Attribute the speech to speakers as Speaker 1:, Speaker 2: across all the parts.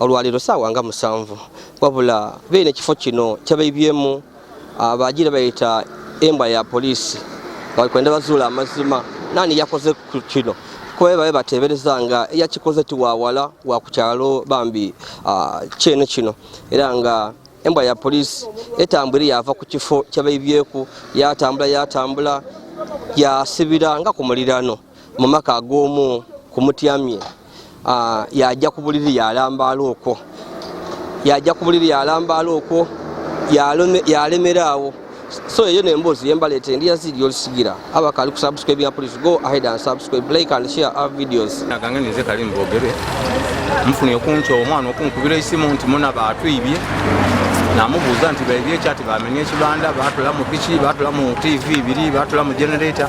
Speaker 1: olwaleero saawa nga musanvu wabula beera ekifo kino kyabebyemu abagira bayita embwa ya poliisi bakwenda bazuula amazima nani yakoze ku kino kuba babe bateebereza nga eyakikoze tiwawala wa ku kyalo bambi kyene kino era nga embwa ya poliisi etambwire yava ku kifo kyabaibyeku yatambula yatambula yasibira nga ku mulirano mu maka ag'omu ku mutyamye yajja ku buliri yalambaala okwo yajja ku buliri yalambaala okwo yalemera awo so eyo nemboozi yembaleeta endi yaziri yolisigira abakali ku subscribe ya police go ahead and subscribe like and share our videos naganga ninze kali
Speaker 2: mbogere nfuna okunca omwana okunkubira esimu nti muna batwibye namubuuza nti baibye ekyati bamenya ekibanda batula mu piki batula mu tv biri batula mu generator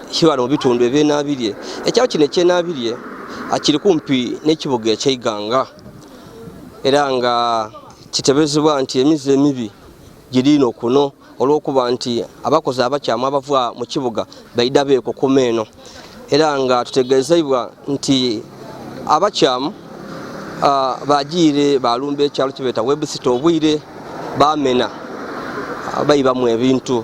Speaker 1: kibala mu bitundu ebyenabirye ekyalo kino ekyenabirye kiri kumpi n'ekibuga ekyeiganga era nga kitebezebwa nti emizi emibi giriino kuno olw'okuba nti abakozi abakyamu abava mu kibuga baida beekukuma eno era nga tutegeezeibwa nti abakyamu ah, bagiire balumba ekyalo kibeeta webusita obwire bamena bayibamu ebintu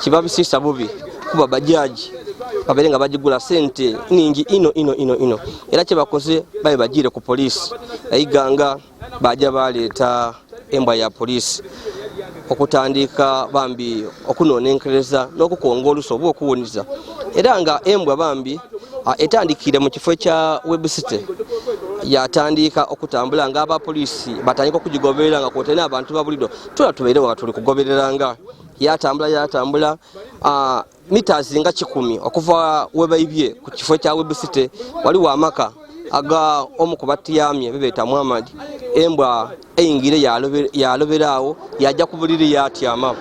Speaker 1: kiba bisisa bubi kuba bajaji babeere nga bagigula sente ningi ino ino ino ino era kyebakoze babe bagiire ku poliisi naiganga baja baleeta embwa ya poliisi okutandiika bambi okunonenkereza n'okukonga oluso oba okuwuniza era nga embwa bambi etandikiire mu kifo kya website yatandiika okutambula nga abapoliisi batandika okugigoberera nga kwotali n'abantu babulido tula tubeere nga tuli kugobereranga yatambula yatambula uh, meters nga kikumi okuva webaibye ku kifo kya website waliwo amaka aga omu ku batiyamye bebeeta muhammad embwa eyingire yaloberaawo yajja ku buliri yatyama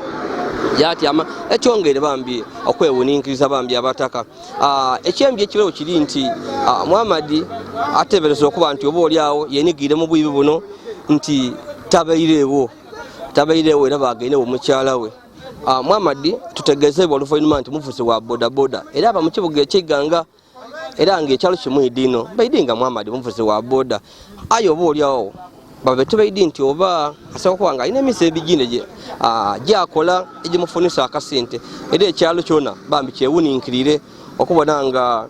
Speaker 1: yatyama ekyongere bambi okwewuninkiriza bambi abataka ah, ekyembi ekibewo kiri nti ah, muhammad atebereza okuba nti oba oli awo yenigire mu bwibi buno nti tabaireewo tabairewo era bagende womukyala we ah, mwamadi tutegezebwa oluvannyuma nti muvuzi wa bodaboda era aba mu kibuga ekiganga era nga ekyalo kimu idino baidi nga mwamadi muvuzi wa boda aye oba olyawo babe tubaidi nti oba asaba kuba nga alina emisa ebigine ah, gyakola egimufunisa akasente era ekyalo kyona bambi kyewuninkirire okubona nga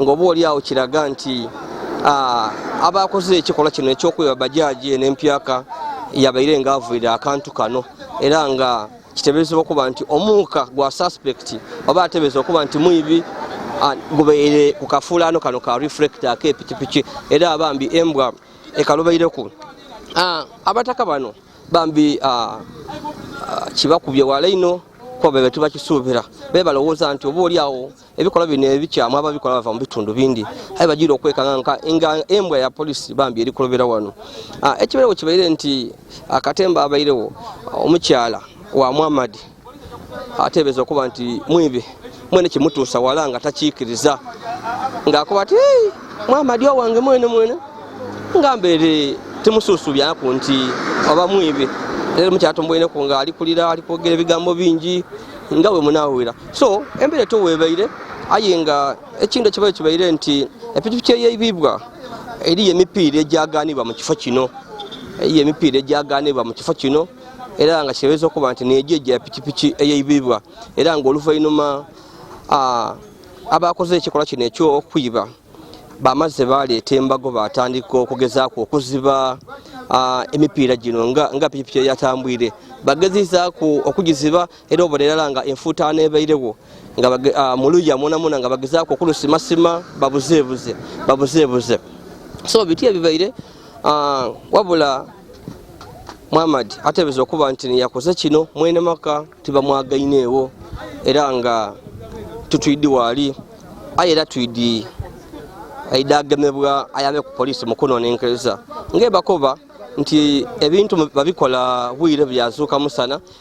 Speaker 1: ng'oba oli awo kiraga nti abaakoze ekikolwa kino eky'okuba bajaaji eno empyaka yabaire ng'avuira akantu kano era nga kiteberezebwa okuba nti omuuka gwa suspekiti oba atebereza okuba nti mwibi gubaire ku kafuulaano kano ka reflecta ak'epikipiki era abambi embwa ekalubaireku abataka bano bambi kibakubye wala ino kuba bebe tubakisuubira bebalowooza nti oba oli awo ebikolwa bino ebikyamu ababikola bava mu bitundu bindi aye bagira okwekanganka nga embwa ya polisi bambi eri kulobera wano ah, ekibeerewo kibaire nti akatemba abairewo omukyala wa muhammad ateebereza okuba nti mwibi mwene kimutuusa wala nga takiikiriza ngaakuba ti muhammad owange mwene mwene nga mbeere temusuusu byaku nti oba mwibi leero mukyatumbweneku nga alikulira alikwogera ebigambo bingi nga bwe munaawira so embera eto webaire aye nga ekintu ekibaire kibaire nti epikipiki eyeibibwa eriyo emipiira egyaganibwa mu kifo kino eriyo emipiira egyaganibwa mu kifo kino era nga kirebeeza okuba nti negyo egya pikipiki eyeibibwa era nga oluvainuma abakoze ekikolwa kino ekyokwiba bamazze baleeta embago batandika okugezaako okuziba emipiira gino nga pikipiki eyatambwire bagezizaaku okugiziba era obolerala nga enfuutaano ebairewo nga ah, muluya mwonamwona nga bagezaako okulusimasima babuzeebuze babuzeebuze so biti ebibaire ah, wabula muhammad ateebeza okuba nti yakoze kino mwene maka tibamwagaineewo era nga tutwidi waali aye era twidi aida agemebwa ayambe ku poliisi mukunonenkereza ngaebakoba nti ebintu babikola bwire byazuuka musana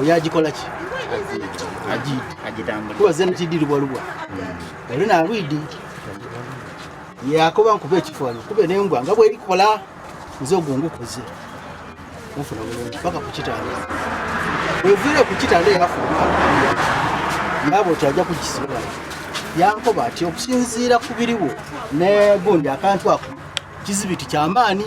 Speaker 1: oyo agikola ki kuba zeno kidirubwalubwa hmm. oli nalwidi yakoba nkuba ekifaano kube nembwa nga bwerikola nze ogwo ngukoze nfuna bulungi paka kukitanda weviire kukitanda yafuna naabo ti ajja kukisobola yankoba ati okusinziira ku biriwo negundi akantu ako kizibiti kyamaani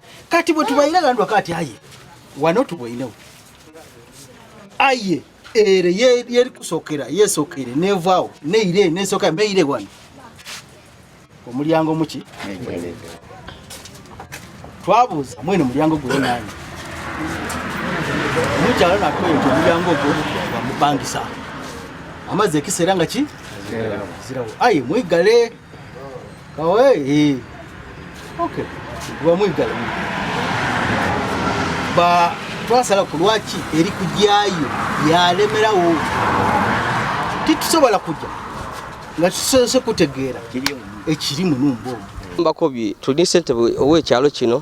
Speaker 3: kati bwe tubayina gandwa kati aye wano tubweinewo aye ere yeri kusokera yesokere nevaawo neire nesoka mbeire wano omulyango muki twabuuza mwene mulyango gwe nani mukyalo natwee nti omulyango ogwo bamupangisa amazzi ekiseera nga ki zirawo aye mwigale kawe eh okay bamwigala ba twasala ku lwaki eri kujyayo yalemerawo titusobola kujya nga tusoose kutegeera ekiri mu numba omu mbako bi tulina
Speaker 1: sente owekyalo kino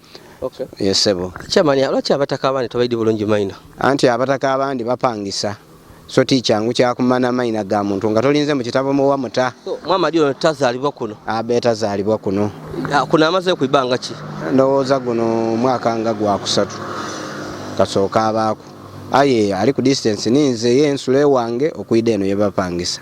Speaker 4: Okay.
Speaker 1: Yes, sebo. Chamani,
Speaker 4: lwaki abataka
Speaker 1: abandi tobaidi bulungi maina? Anti abataka
Speaker 4: abandi bapangisa. So teacher ngu kya kumana maina ga muntu nga tolinze mu kitabo mu wamuta. So mama dio
Speaker 1: tazalibwa kuno. Abe tazalibwa
Speaker 4: kuno. Ah, kuna amaze ku
Speaker 1: ibanga ki? Ndowooza guno
Speaker 4: mwaka nga gwa kusatu. Kasooka abaako. Aye ali ku distance ninze ye nsule wange okuida eno yebapangisa.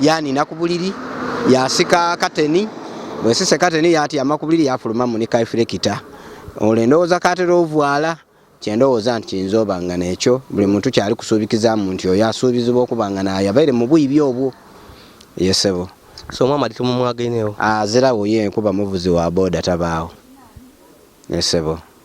Speaker 4: yanina ku buliri yasika kateni bwesise kateni yatyama ku buliri yafuluma munikaifulekita olwo endowooza katera ovuala kyendowooza nti kiyinza oba nga nekyo buli muntu kyali kusuubikizamu nti oyo asuubizibwa okuba nga nayabaire mu bwibi obwo yesebo so omwama
Speaker 1: ali tumumwagenewo azirawo ye
Speaker 4: nkuba muvuzi wa boda tabaawo yesebo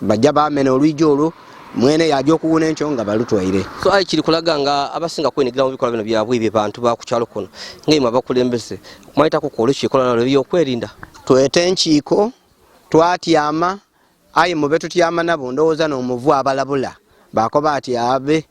Speaker 4: bajja bamena olwiji olwo mwene yaja okuwuna enkyo nga balutwaire so ayi kiri kulaga
Speaker 1: nga abasinga kwenyigira mu bikolwa bino byabwe ebyo bantu bakukyalo kuno ngaimwe abakulembeze kumayitako kwolwo kikola nalo ebyokwerinda twete enkiiko
Speaker 4: twatyama ayi mube tutyama nabo ndowooza n'omuvu abalabula bakoba ati abe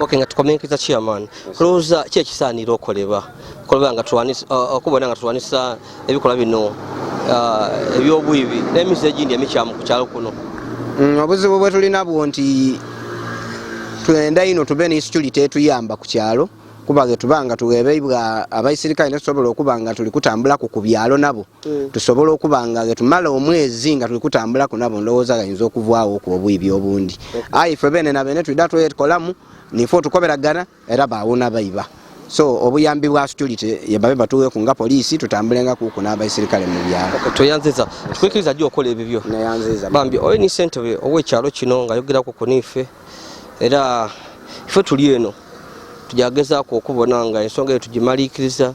Speaker 4: ok nga tukomenkeza
Speaker 1: chairman kulowooza ki ekisaanira okolebwa kolebwa nga uh, okubona nga tulwanisa ebikolwa bino uh, ebyobwibi n'emizi egindi emikyamu ku kyalo kuno mm, obuzibu
Speaker 4: bwe tulina bwo nti tuendaino tube ne security etuyamba ku kyalo kuba getubanga tuwebeibwa abaisirikale netusobola okuba nga tuli kutambulaku ku byalo nabo mm. tusobola okuba nga getumala omwezi nga tuli kutambulako nabo ndowooza gayinza okuvwawo ku obuibi obundi aye ife bene na bene tulida twekolamu nife otukoberagana era bawona baiba so obuyambi bwa security yebabe batuwe ku nga poliisi tutambulenga kuku n'abaisirikale mu byalo tweyanziza tukwikiriza
Speaker 1: jjo okola ebibyo neyanziza bambi oyo
Speaker 4: ni sentebe
Speaker 1: ow'ekyalo kino nga yogerako ku niife era ife tuli eno tujagezaako okubona nga ensonga eyo tugimaliikiriza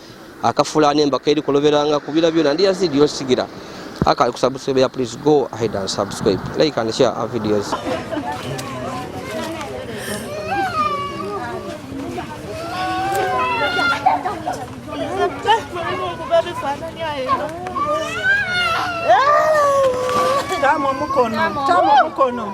Speaker 1: akafulani embaka eri kuloberanga kubira byona ndi yazidi yosigira akali kusubscribe ya please go ahead and subscribe like and share our videos
Speaker 5: Tamo mukono, tamo mukono.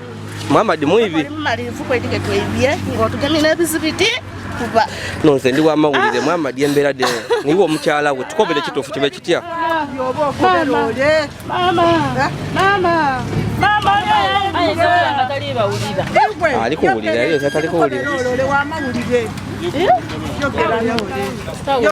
Speaker 1: Muhammad mwibi. Malivu kwe dige
Speaker 6: twibye ngo tugemye n'ebizibiti kuba. No nze ndi wa
Speaker 1: mawulire ah. Muhammad yembera de niwo omukyala we tukobere kitufu kibe kitya. Ah, mama. Mama. Eh?
Speaker 5: Mama. Mama.
Speaker 1: Ali kuwulira yeye atali kuwulira. Yo kera yo.